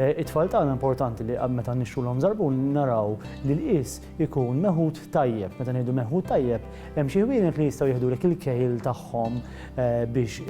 It-tfal tagħna importanti li meta nixtrulhom żarbun naraw li l-qies ikun meħud tajjeb. Meta ngħidu meħud tajjeb, hemm xi ħwienet li jistgħu jiħdulek il-kejl tagħhom biex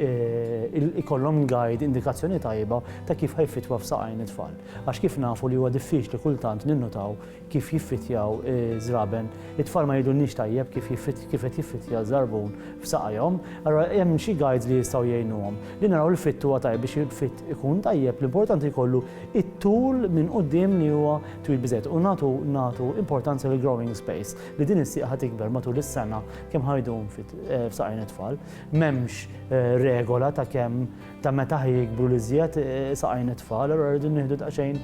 ikollhom guide, indikazzjoni tajba ta' kif ħajfitwa f'saqajn it-tfal. Għax kif nafu li huwa diffiċli kultant ninnutaw kif jiffrittjaw iż-żraben. It-tfal ma jgħidulniex tajjeb kif kif qed jiffrittja ż-żarbun f'saqajhom, allura hemm xi guides li jistgħu jgħinuhom. Li naraw li fritt huwa tajjeb biex il-fritt ikun tajjeb l-importanti jkollu it-tul minn quddiem li huwa twil biżżejjed u nagħtu nagħtu importanza lill-growing space li din is-sieq ħa tikber matul is-sena kemm ħa jdum f'saqajn it-tfal. M'hemmx regola ta' kemm ta' meta ħaj jikbru l-iżjed saqajn it-tfal, allura rridu nieħdu daqsxejn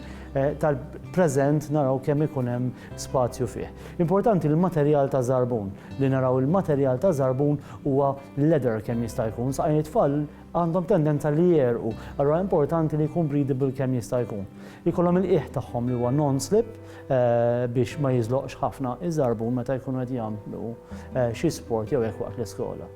tal-preżent naraw kemm ikun hemm spazju fih. Importanti l-materjal ta' żarbun, li naraw il-materjal ta' żarbun huwa leather kemm jista' jkun, saqajn it-tfal għandhom tendenza li jegħrqu, allura importanti li jkun breathable kemm jista' jkun. Ikollhom il-qiegħ tagħhom li huwa non-slip biex ma jiżloqx ħafna iż-żarbun meta jkunu qed jagħmlu xi sport jew hekk waqt l-iskola.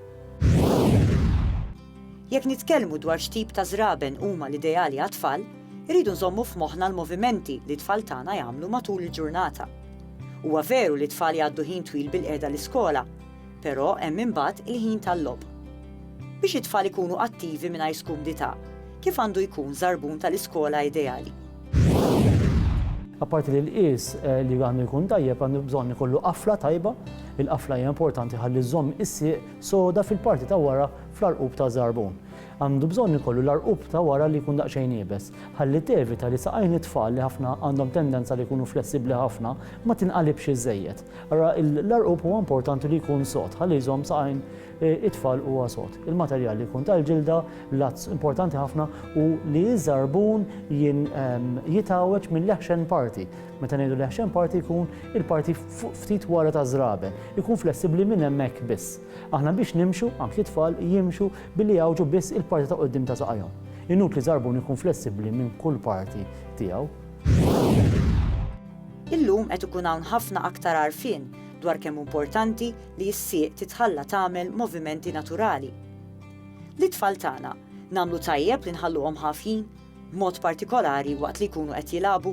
Jekk nitkellmu dwar x'tip ta' żraben huma l-ideali għat-tfal, irridu nżommu f'moħħna l-movimenti li t-tfal tagħna jagħmlu matul il-ġurnata. Huwa veru li t-tfal jgħaddu ħin twil bil-qiegħda l-iskola, però hemm imbagħad il-ħin tal-logħob. Biex it-tfal ikunu attivi mingħajr skumdità, kif għandu jkun żarbun tal-iskola ideali? Apparti li l-qies li għandu jkun tajjeb, għandu bżonn ikollu qafla tajba. Il-qafla hija importanti ħalli żżomm is-sieq soda fil-parti ta' wara fl-għarqub taż-żarbun. Għandu bżonn ikollu l-għarqub ta' wara li jkun daqsxejn iebes, ħalli tevita li saqajn it-tfal li ħafna għandhom tendenza li jkunu flessibbli ħafna ma tinqalibx iżżejjed. Ara l-għarqub huwa importanti li jkun sod ħalli jżomm saqajn it-tfal huwa sod. Il-materjal li jkun tal-ġilda, l-għadz importanti ħafna u li ż-żarbun jitgħawweġ mill-eħxen parti. Meta ngħidu li ħxen parti jkun il-parti fuq ftit wara ta' żraben, ikun flessibbli minn hemmhekk biss. Aħna biex nimxu, anki t-tfal jimxu billi jgħawġu biss il-parti ta' quddiem ta' saqajhom. Inutli żarbun ikun flessibbli minn kull parti tiegħu. Illum qed ikun hawn ħafna aktar għarfien dwar kemm hu importanti li s-sieq titħalla tagħmel movimenti naturali. Lit-tfal tagħna, nagħmlu tajjeb li nħalluhom ħafjin? b'mod partikolari waqt li jkunu qed jilagħbu.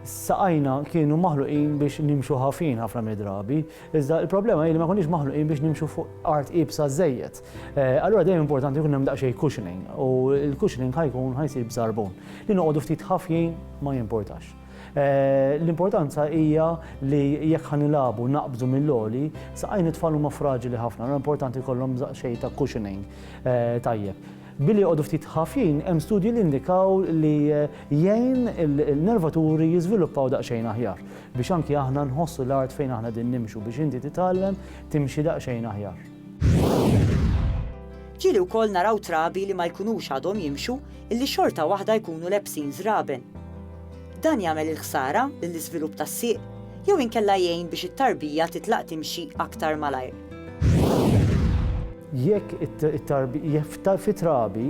Saqajna kienu maħluqin biex nimxu ħafin ħafna mid-drabi, iżda l-problema hi li ma konniex maħluqin biex nimxu fuq art iebsa żejjed. Eh, allura dejjem importanti jkun hemm daqsxejn cushioning u l-cushioning ħajkun ħajsir b'sarbun. Li noqogħdu ftit ħafjin ma jimportax. L-importanza hija li jekk ħa nilagħbu naqbżu mill-għoli, saqajn it-tfal huma fraġili ħafna, allura importanti jkollhom xejn ta' cushioning tajjeb. Billi joqogħdu ftit ħafjin, hemm studji li indikaw li jgħin il-nervaturi jiżviluppaw daqsxejn aħjar biex anki aħna nħossu l-art fejn aħna qegħdin nimxu biex inti titgħallem timxi daqsxejn aħjar. Ġieli wkoll naraw trabi li ma jkunux għadhom jimxu illi xorta waħda jkunu lebsin żraben. Dan jagħmel il-ħsara lill-iżvilupp tas-sieq jew inkella jgħin biex it-tarbija titlaq timxi aktar malajr. Jekk fit-trabi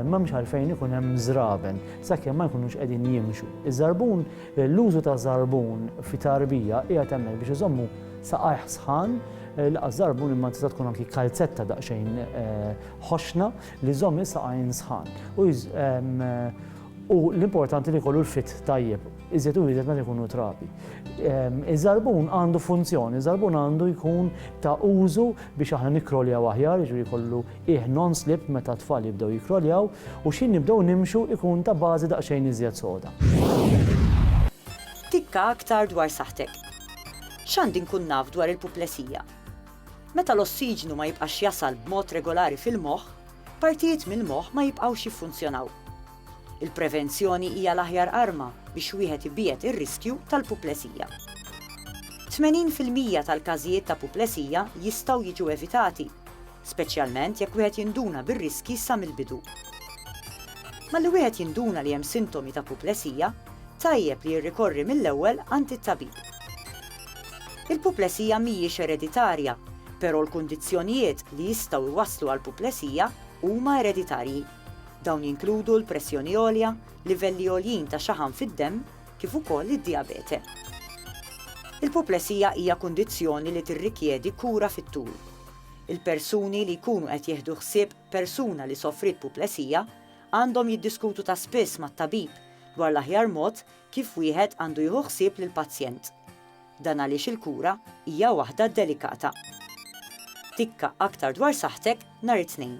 m'hemmx għalfejn ikun hemm żraben sakemm ma jkunux qegħdin jimxu. Iż-żarbun, l-użu ta' żarbun fi tarbija qiegħed hemmhekk biex iżommu saqajh sħan, l-inqas żarbun imma tista' tkun anki kalzetta daqsxejn ħoxna li jżomm is-saqajn sħan u l-importanti li jkollu l-fit tajjeb, iżjed u iżjed meta jkunu trabi. Iż-żarbun għandu funzjoni, iż-żarbun għandu jkun ta' użu biex aħna nikkroljaw aħjar, jiġri jkollu qiegħ non-slip meta t-tfal jibdew jikkroljaw u xi nibdew nimxu jkun ta' bażi daqsxejn iżjed soda. Tikka aktar dwar saħħtek. X'għandi nkun naf dwar il-puplesija? Meta l-ossiġnu ma jibqax jasal b'mod regolari fil-moħħ, partijiet mill-moħħ ma jibqgħux jiffunzjonaw. Il-prevenzjoni hija l-aħjar arma biex wieħed ibiegħed ir-riskju tal-puplesija. Tmenin fil-mija tal-każijiet ta' puplesija jistgħu jiġu evitati, speċjalment jekk wieħed jinduna bir-riskji sa mill-bidu. Malli wieħed jinduna li hemm sintomi ta' puplesija, tajjeb li jirrikorri mill-ewwel għand it-tabib. Il-puplesija mhijiex ereditarja, però l-kundizzjonijiet li jistgħu jwasslu għal puplesija huma ereditarji. Dawn jinkludu l-pressjoni għolja, livelli għoljin ta' xaħam fid-demm, kif ukoll id-dijabete. Il-puplesija hija kundizzjoni li tirrikjedi kura fit-tul. Il-persuni li jkunu qed jieħdu ħsieb persuna li sofriet puplesija għandhom jiddiskutu ta' spiss mat-tabib dwar l-aħjar mod Kif wieħed għandu jieħu ħsieb lill-pazjent? Dan għaliex il-kura hija waħda delikata. Tikka aktar dwar saħħtek nhar it-Tnejn.